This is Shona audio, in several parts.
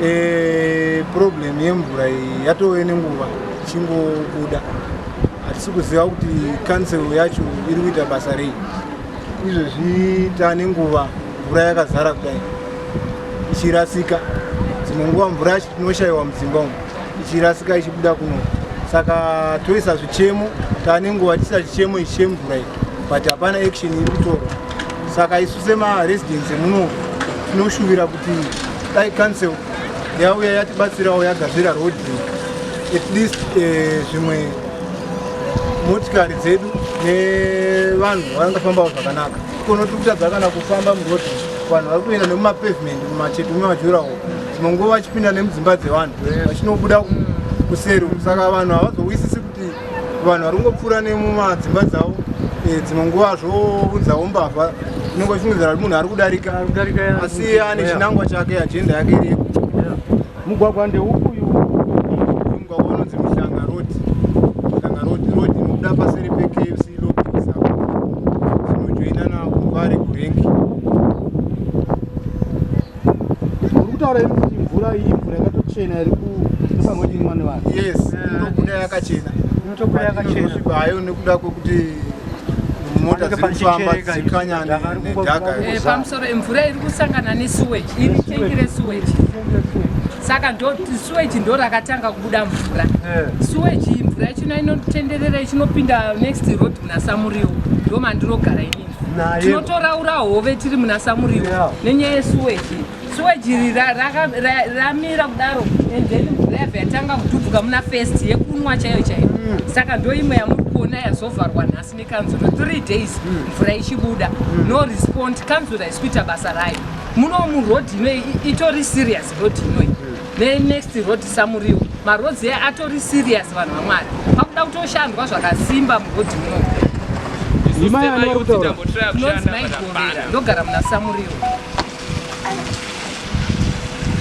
Eh, problem yemvura iyi yatove nenguva ichingobuda hatisi kuziva kuti council yacho iri kuita basa rei izvezvi tane nguva mvura yakazara kudai ichirasika dzimwe nguva mvura yacho tinoshayiwa mudzimba umu ichirasika ichibuda kuno saka toisa zvichemo tane nguva tiisa chichemo ichi chemvura iyi but hapana action iri kutorwa saka isu semaresidents emuno tinoshuvira kuti dai council yauya yatibatsirawo yagadzira road at least eh, zvimwe motikari dzedu nevanhu vangafambawo zvakanaka kono tiri kutadza kana kufamba muroad vanhu vari kuenda nemumapavement mumacheto mumajurawo dzimwe nguva vachipinda nemudzimba dzevanhu vachinobuda kuseri saka vanhu havazowisisi vanhu vari kungopfuura nemumadzimba dzavo eh, dzimwe nguva zvounzawo mbavha inenge ichimudzira kuti munhu ari kudarika asi ane chinangwa chake ajenda yake iriko mugwagwa ndeuku kutaura iri kuti mvura iyi mvura yakatochena iri kusangoimwa nevanhu yes inobuda yakachena inotobuda yakachena hayo nekuda kwekuti mota dziri kufamba dzikanya nedhaka eh, pamusoro mvura iri kusangana nesuweji iri tengi resuweji saka suweji ndo rakatanga kubuda mvura eh. suweji mvura ichino inotenderera ichinopinda next road munasamuriwo ndo mandinogara inini tinotoraura hove tiri muna samuriwo nenyaya yesuweji suweji iri ramira kudaro and then mvura yabva yatanga kudhubvuka muna fest yekunwa chaiyo chaiyo mm. saka ndo imwe yamuri kuona yazovharwa nhasi nekanzura three days mm. mvura ichibuda mm. no respond kanzura isi kuita basa rayo muno muroad inoyi itori serious road inoyi Then next road Samuriwo. Maroads here atori serious vanhu vamwari. Pakuda kutoshandwa zvakasimba muroad muno. Imai ane kutaura. Nonzi mai Govera ndogara muna Samuriwo.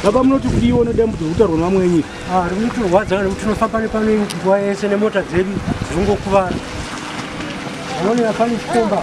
Baba munoti kudiwa nedambudzo rekutarwa nevamwe enyu. Ah, rinotirwadza nekuti tinofamba nepano nguva yese nemota dzedu dzinongokuvara. Unoona pane chikomba.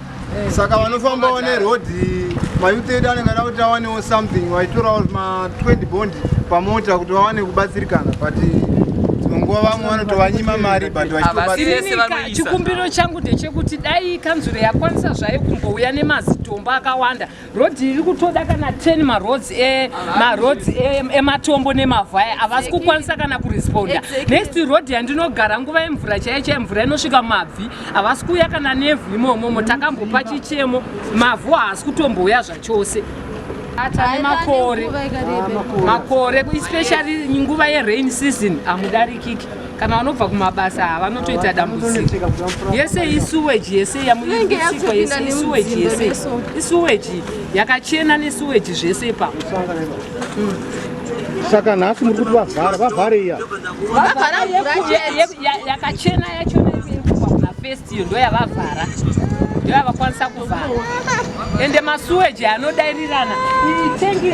saka vanofambawo neroad mayuti edu anenge ada kuti awanewo something vaitorawo ma20 bond pamota kuti vawane kubatsirikana but dzimwe nguva vamwe vanotovanyima mari but vachitobatsirikachikumbiro changu ndechekuti dai kanzuro yakwanisa zvayo kumbouya nemazitombo akawanda road iri kutoda kana 10 maroads e maroads e, ematombo nemavhu aya havasi kukwanisa kana kuresponda next road yandinogara nguva yemvura chaiye chaiye mvura inosvika mabvi havasi kuuya kana nevhu imomomo takambopa chichemo mavhu haasi kutombouya zvachose atane makore makore especially nguva yerain season hamudarikiki kana vanobva kumabasa ava vanotoita dambudziko yese isuweji yese yamuisikwa yese isuweji yese isuweji yakachena nesuweji zvese ipapo saka nhasi muri kuti vavhara vavhare iya yakachena yacho yekubva kuna first iyo ndoyavavhara ndoyavakwanisa kuvhara ende masuweji anodairirana itengi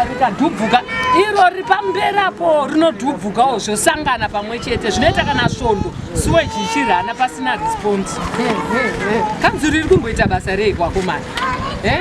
rikadhubvuka iro riri pamberi apo rinodhubvukawo zvosangana pamwe chete zvinoita kana svondo suweji ichirana pasina response kanzuru iri kumboita basa rei kwakomana eh?